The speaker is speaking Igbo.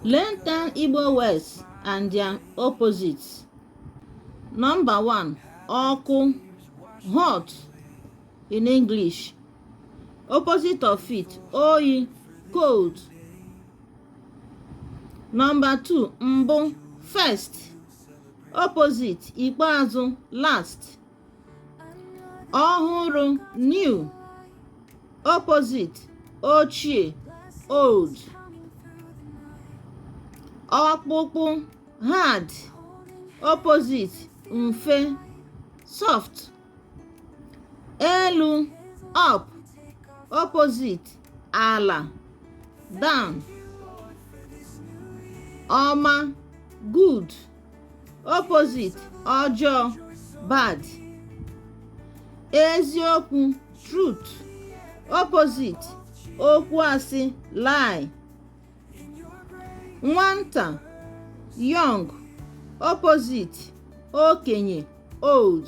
Learn Town Igbo words and their opposites. Number one, ọkụ, hot in English. Opposite of it, oyi, cold. Number two, mbụ, first. Opposite, ikpeazụ, last. ọhụrụ new opposite ochie old ọkpụkpụ hard opposite mfe soft elu up opposite ala down ọma good opposite ọjọọ bad eziokwu truth opposite okwu asị lie nwata young opposite okenye old